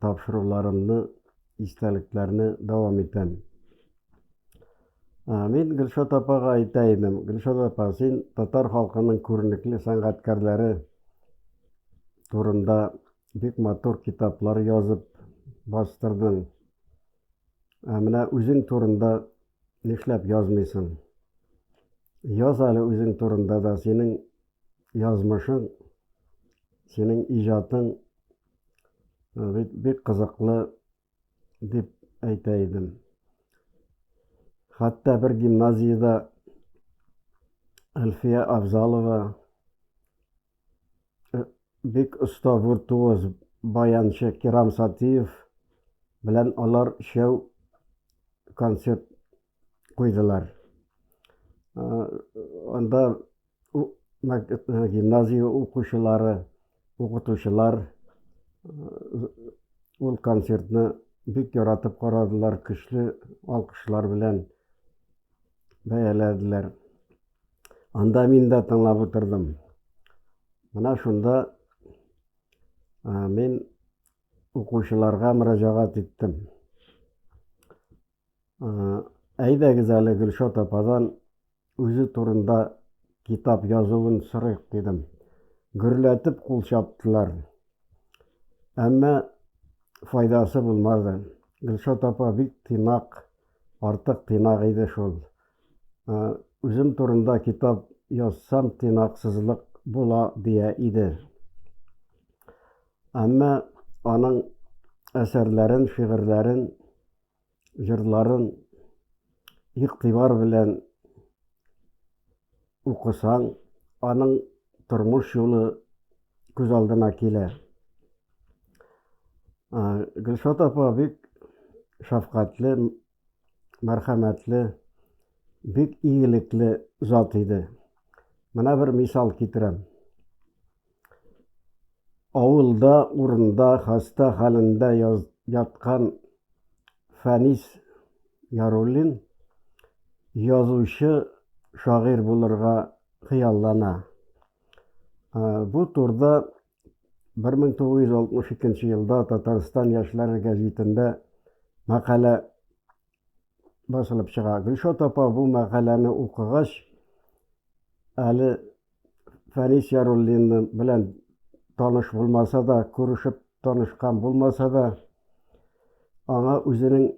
тапшыруларымны, истәлекләрне дәвам итәм. Мин Гөлшат апага әйтә идем, Гөлшат апа, син татар халкының күренекле сәнгатькәрләре турында бик матур китаплар язып бастырдың. Ә менә үзең турында нишләп язмыйсың? Яз әле үзең турында да, синең язмышың, синең иҗатың бит бик кызыклы дип әйтә идем. Хәтта бер гимназиядә Әлфия Авзалова э, бик оста виртуоз баянчы Кирам Сатиев белән алар шәү концерт куйдылар. Э, анда Гимназия укучылары, укытучылар ул концертны бик яратып карадылар, көчле алкышлар белән бәяләделәр. Анда мин дә тыңлап утырдым. Менә шунда мин укучыларга мөрәҗәгать иттем. Әйдәгез әле Гөлшат ападан үзе турында китап язуын сорыйк дидем. Гөрләтеп кул чаптылар. Әмма файдасы булмады. Гөлшат апа бик тыйнак, артык тыйнак иде шул. Үзем турында китап язсам тыйнаксызлык була дия иде. Әмма аның әсәрләрен, шигырьләрен җырларын игътибар белән укысаң, аның тормыш юлы күз алдына килә. Гөлшат апа бик шәфкатьле, мәрхәмәтле, бик игелекле зат иде. Менә бер мисал китерәм. Авылда, урында хаста хәлендә яткан Фәнис Яруллин язучы, шагыйрь булырга хыяллана. Бу турда 1962 елда Татарстан яшьләре гәҗитендә мәкалә басылып чыга. Гөлшат апа бу мәкаләне укыгач, әле Фәнис Яруллин белән таныш булмаса да, күрешеп танышкан булмаса да, аңа үзенең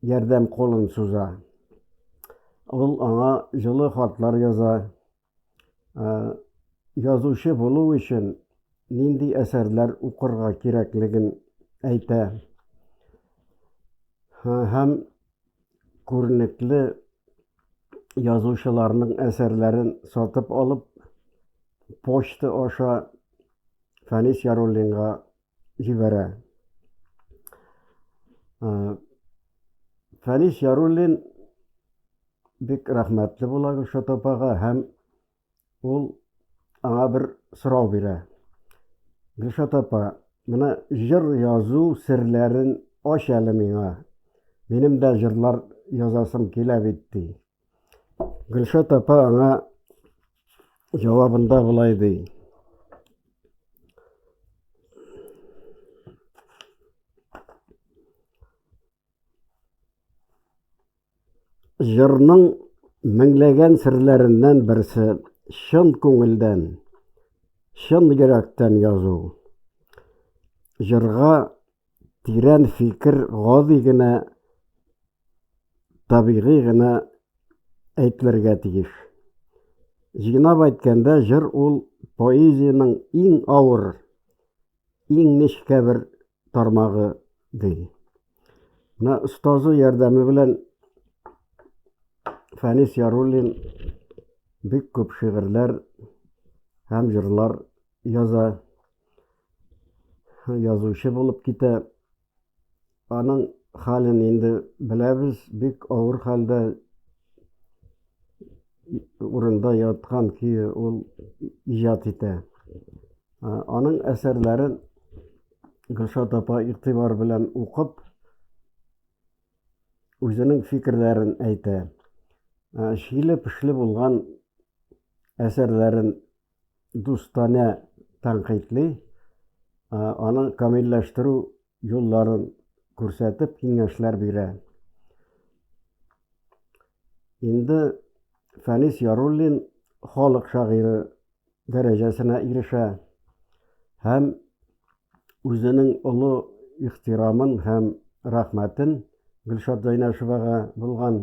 ярдәм колын суза. Ул аңа җылы хатлар яза, Язучы булу өчен нинди әсәрләр укырга кирәклеген әйтә. Һәм күренекле язучыларның әсәрләрен сатып алып, почта аша Фәнис Яруллинга җибәрә. Фәнис Яруллин бик рәхмәтле була Гөлшат апага һәм ул аңа бер сорау бирә. Гөлшат апа, менә җыр язу серләрен ач әле миңа. Минем дә җырлар язасым килә бит, ди. Гөлшат апа аңа җавабында болай ди. Җырның меңләгән серләреннән берсе чын күңелдән, чын йөрәктән язу. Җырга тирән фикер гади генә табигый гына әйтелергә тиеш. Җыйнап әйткәндә, җыр ул поэзиянең иң авыр, иң нечкә бер тармагы ди. Менә остазы ярдәме белән Фәнис Яруллин бик күп шигырьләр һәм җырлар яза. Язучы булып китә. Аның хәлен инде беләбез, бик авыр хәлдә урында яткан көе ул иҗат итә. Аның әсәрләрен Гөлшат апа игътибар белән укып, үзенең фикерләрен әйтә. Шиле-пешле булган әсәрләрен Дустане тәнкыйтьли, аның камилләштерү юлларын күрсәтеп киңәшләр бирә. Инде Фәнис Яруллин халык шагыйре дәрәҗәсенә ирешә һәм үзенең олы ихтирамын һәм рәхмәтен Гөлшат Зайнәшевага булган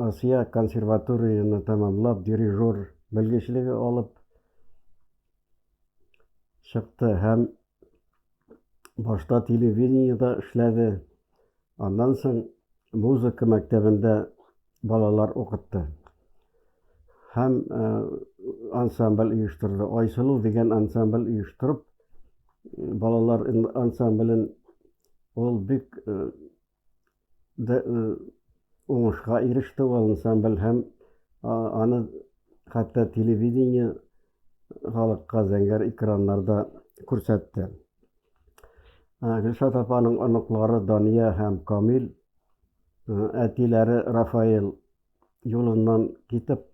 Асия консерваторияне тәмамлап, дирижер белгечлеге алып чыкты һәм башта телевидениедә эшләде. Аннан соң музыка мәктәбендә балалар укытты. Һәм э, ансамбль оештырды. Айсылу дигән ансамбль оештырып, балалар ансамблен ул бик э, да уңышка иреште ул ансамбль һәм аны хәтта телевидение халыкка зәңгәр экраннарда күрсәтте. Гөлшат апаның оныклары Дания һәм Камил, әтиләре Рафаэль юлыннан китеп,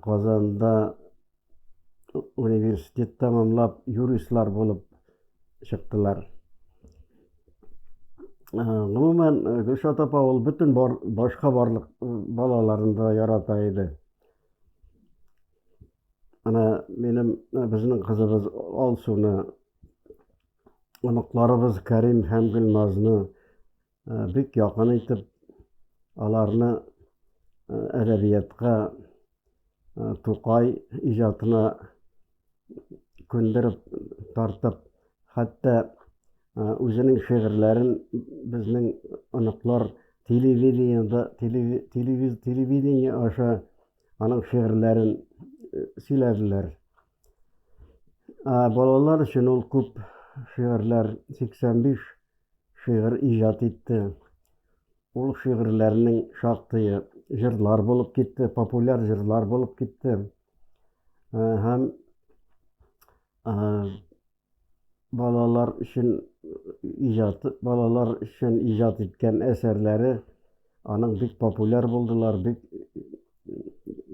Казанда университет тәмамлап, юристлар булып чыктылар. Гомумән, Гөлшат апа ул бөтен бар, башка барлык балаларын да ярата иде. Ана минем безнең кызыбыз Алсуны, оныкларыбыз Кәрим һәм Гөлназны бик якын итеп аларны әдәбиятка Тукай иҗатына күндереп тартып, хәтта үзенең шигырьләрен безнең оныклар телевидениеда телевидение аша аның шигырьләрен сөйләделәр. Балалар өчен ул күп шигырьләр 85 шигырь иҗат итте. Ул шигырьләрнең шактые җырлар булып китте, популяр җырлар булып китте. Э, һәм э, балалар өчен иҗат, балалар өчен иҗат иткән әсәрләре аның бик популяр булдылар, бик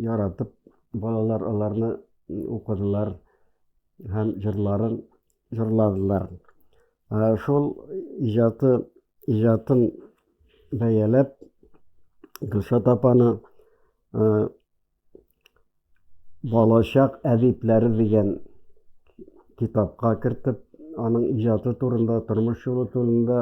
яратып балалар аларны укыдылар һәм җырларын җырладылар. Шул иҗаты, иҗатын бәяләп, Гөлшат апаны Балачак әдипләре дигән китапка кертеп, аның иҗаты турында, тормыш юлы турында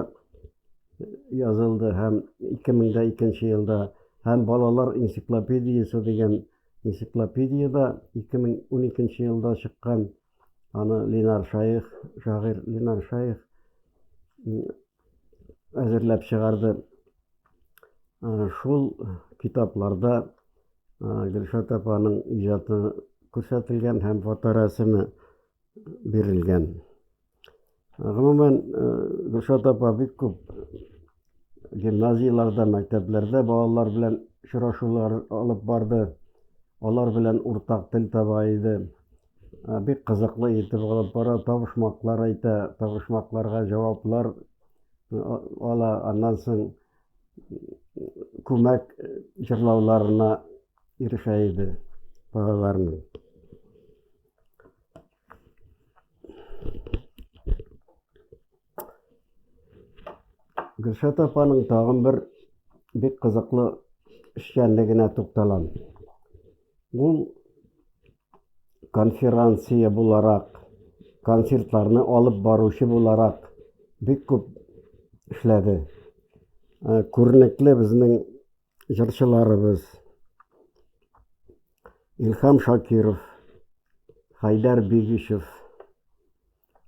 язылды һәм 2002 елда һәм балалар энциклопедиясе дигән энциклопедияда 2012 елда чыккан Аны Линар Шаих, шагыйрь Линар Шаих әзерләп чыгарды. Шул китапларда Гөлшат апаның иҗаты күрсәтелгән һәм фоторәсеме бирелгән. Гомумән, Гөлшат апа бик күп гимназияләрдә, мәктәпләрдә балалар белән очрашулар алып барды. Алар белән уртак тел таба иде. Бик кызыклы итеп алып бара, табышмаклар әйтә, табышмакларга җаваплар ала. Аннан соң күмәк җырлауларына ирешә иде балаларның. Гөлшат апаның тагын бер бик кызыклы эшчәнлегенә тукталам. Ул конференция буларак, концертларны алып баручы буларак бик күп эшләде. Э, күренекле безнең Җырчыларыбыз Илхам Шакиров, Хайдар Бигишев,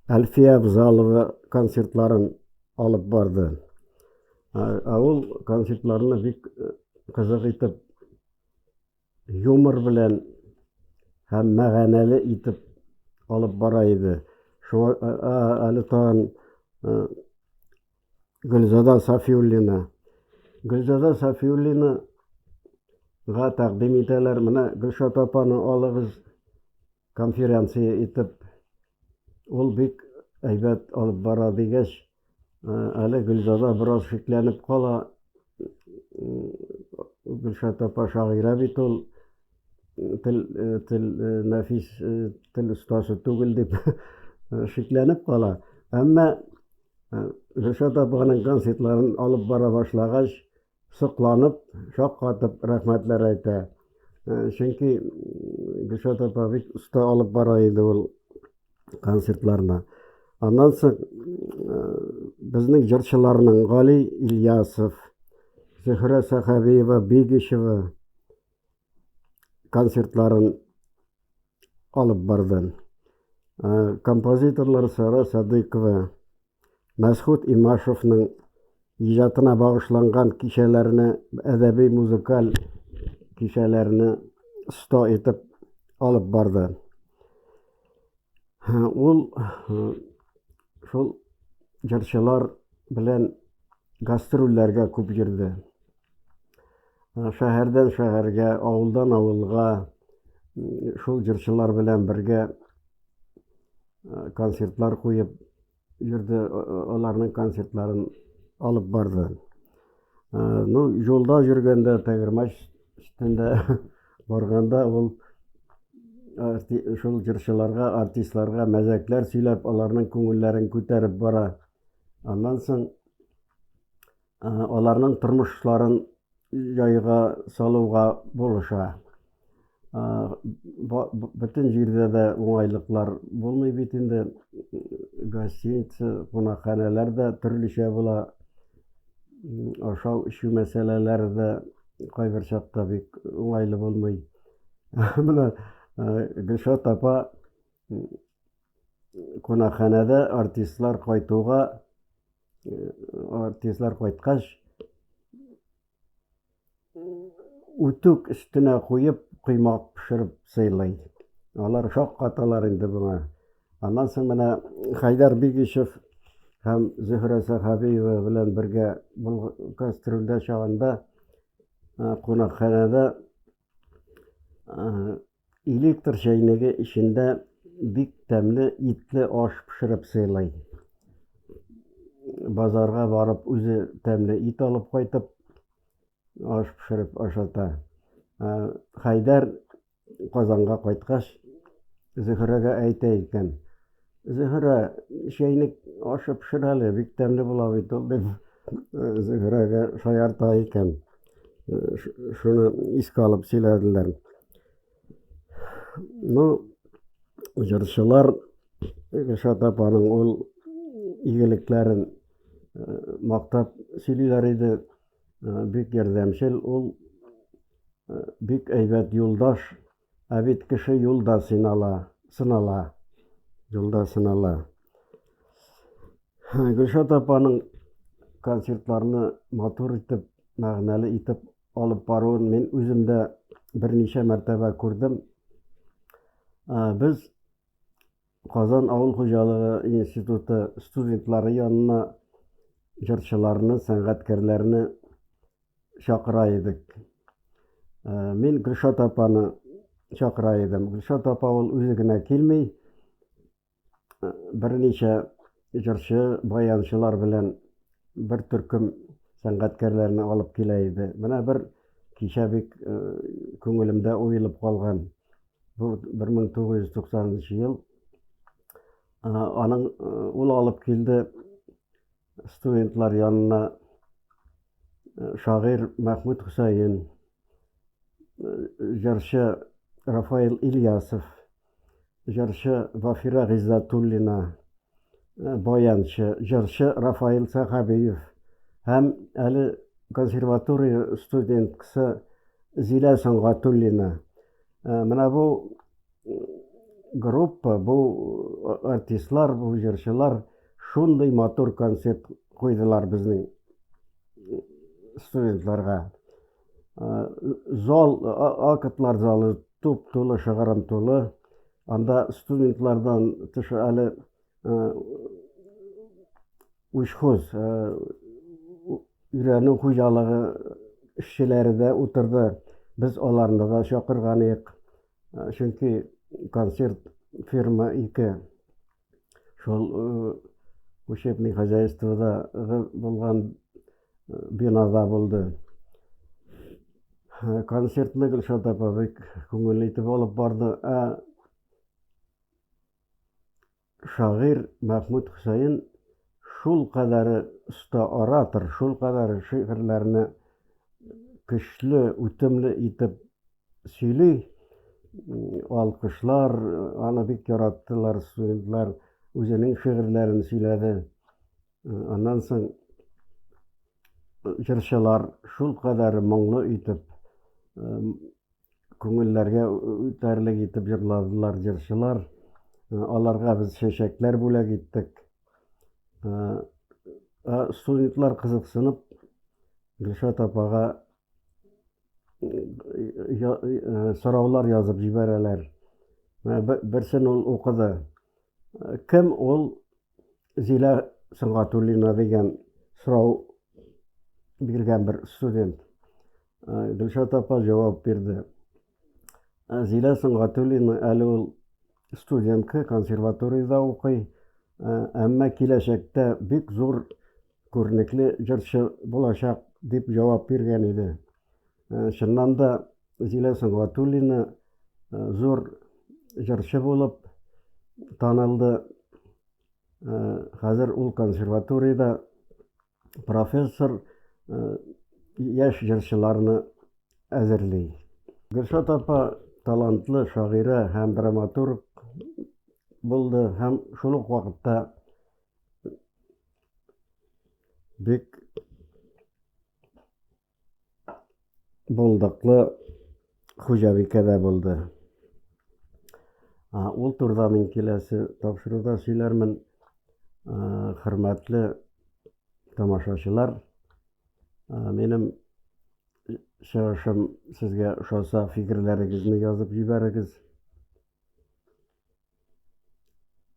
Әлфия Абзалова концертларын алып барды. Ә ул концертларны бик кызык итеп юмор белән һәм мәгәнәле итеп алып бара иде. Шуңа э, э, әле тагын э, Гөлзада Сафиуллина. Гөлзада Сафиуллина га тәкъдим итәләр. Менә Гөлшат апаны алыгыз конференция итеп. Ул бик әйбәт алып бара дигәч, Әле Гөлзада бераз шикләнеп кала. Гөлшат апа шагыйрә бит ул. Тел, тел, нәфис тел остасы түгел дип шикләнеп кала. Әмма Гөлшат апаның концертларын алып бара башлагач, сокланып, шаккатып рәхмәтләр әйтә. Э, чөнки Гөлшат апа бик оста алып бара иде ул концертларны. Аннан соң э, безнең җырчыларның Гали Ильясов, Зөһрә Сахабиева, Бигишева концертларын алып барды. Э, композиторлар Сара Садыкова, Мәсхүт Имашевның иҗатына багышланган кичәләрне, әдәби-музыкаль кичәләрне 100 итеп алып барды. Ул шул җырчылар белән гастрольләргә күп йөрде. Шәһәрдән шәһәргә, авылдан авылга шул җырчылар белән бергә концертлар куеп, Йөрде, аларның концертларын алып барды. Ну, юлда йөргәндә, Тәгәрмәч өстендә барганда ул шул җырчыларга, артистларга мәзәкләр сөйләп, аларның күңелләрен күтәреп бара. Аннан соң аларның тормышларын җайга салуга булыша. Бөтен җирдә дә уңайлыклар булмый бит инде. Гостиница, кунакханәләр дә төрлечә була. Ашау-эчү мәсьәләләре дә кайбер чакта бик уңайлы булмый. Менә Гөлшат апа кунакханәдә артистлар кайтуга Артистлар кайткач, үтүк өстенә куеп, коймак пешереп сыйлый. Алар шаккаталар инде моңа. Аннан соң менә Хайдар Бигишев һәм Зөһрә Сәхабиева белән бергә гастрольдә чагында кунакханәдә Электр чәйнеге эчендә бик тәмле итле аш пешереп сыйлый. Базарга барып үзе тәмле ит алып кайтып, аш пешереп ашата. Ә, Хәйдәр Казанга кайткач, Зөһрәгә әйтә икән, Зөһрә, чәйнек ашы пешер әле, бик тәмле була бит ул, дип, э, Зөһрәгә шаярта икән. Э, ш- Шуны искә алып сөйләделәр. Ну, җырчылар Гөлшат апаның ул игелекләрен э, мактап сөйлиләр иде. Э, Бик ярдәмчел ул, э, бик әйбәт юлдаш. Ә бит кеше юлда синала, сынала, юлда сынала. Гөлшат апаның концертларны матур итеп, мәгънәле итеп алып баруын мин үзем дә берничә мәртәбә күрдем. Без Казан авыл хуҗалыгы институты студентлары янына җырчыларны, сәнгатькәрләрне чакыра идек. Мин Гөлшат апаны чакыра идем. Гөлшат апа ул үзе генә килми, берничә җырчы, баянчылар белән бер төркем сәнгатькәрләрне алып килә иде. Менә бер кичә бик күңелемдә уелып калган. Бу 1990 ел. Аның ул алып килде студентлар янына шагыйрь Мәхмүт Хөсәен, җырчы Рафаил Ильясов, җырчы Вафира Гыйззатуллина, баянчы, җырчы Рафаил Сәхәбиев һәм әле консерватория студенткасы Зилә Сөнгатуллина. Ә, менә бу группа, бу артистлар, бу җырчылар шундый матур концерт куйдылар безнең студентларга. Зал, актлар залы туп тулы, шыгырым тулы. Анда студентлардан тыш әле учхоз Өйрәнү хуҗалыгы эшчеләре дә утырды. Без аларны да чакырган идек, чөнки консерт фирма ике. Шул учебный хозяйстводагы булган бинада булды. Консертны Гөлшат апа бик күңелле итеп алып барды. Ә шагыйрь Мәхмүт Хөсәен шул кадәре оста оратор, шул кадәре шигырьләрне көчле, үтемле итеп сөйли, алкышлар аны бик яраттылар, студентлар үзенең шигырьләрен сөйләде. Аннан соң җырчылар шул кадәре моңлы итеп күңелләргә үтәрлек итеп җырладылар җырчылар. Аларга без чәчәкләр бүләк иттек. Студентлар кызыксынып Гөлшат апага сораулар язып җибәрәләр. Берсен ул укыды. Кем ул Зилә Сөнгатуллина дигән сорау биргән бер студент. Гөлшат апа җавап бирде. Зилә Сөнгатуллина әле ул студентка консерваториядә укый, әмма киләчәктә бик зур күренекле җырчы булачак дип җавап биргән иде. Чыннан да, Зилә Сөнгатуллина зур җырчы булып танылды. Хәзер ул консерваториядә профессор яшь җырчыларны әзерли. Гөлшат апа талантлы шагыйрә һәм драматург булды һәм шул ук вакытта бик булдыклы хуҗабикә дә булды. Ул турыда мин киләсе тапшыруда сөйләрмен. Хөрмәтле тамашачылар, минем чыгышым сезгә ошаса, фикерләрегезне язып җибәрегез.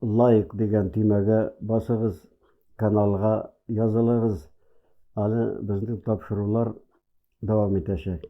лайк дигән төймәгә басыгыз, каналга язылыгыз, аны безнең тапшырулар дәвам итәчәк.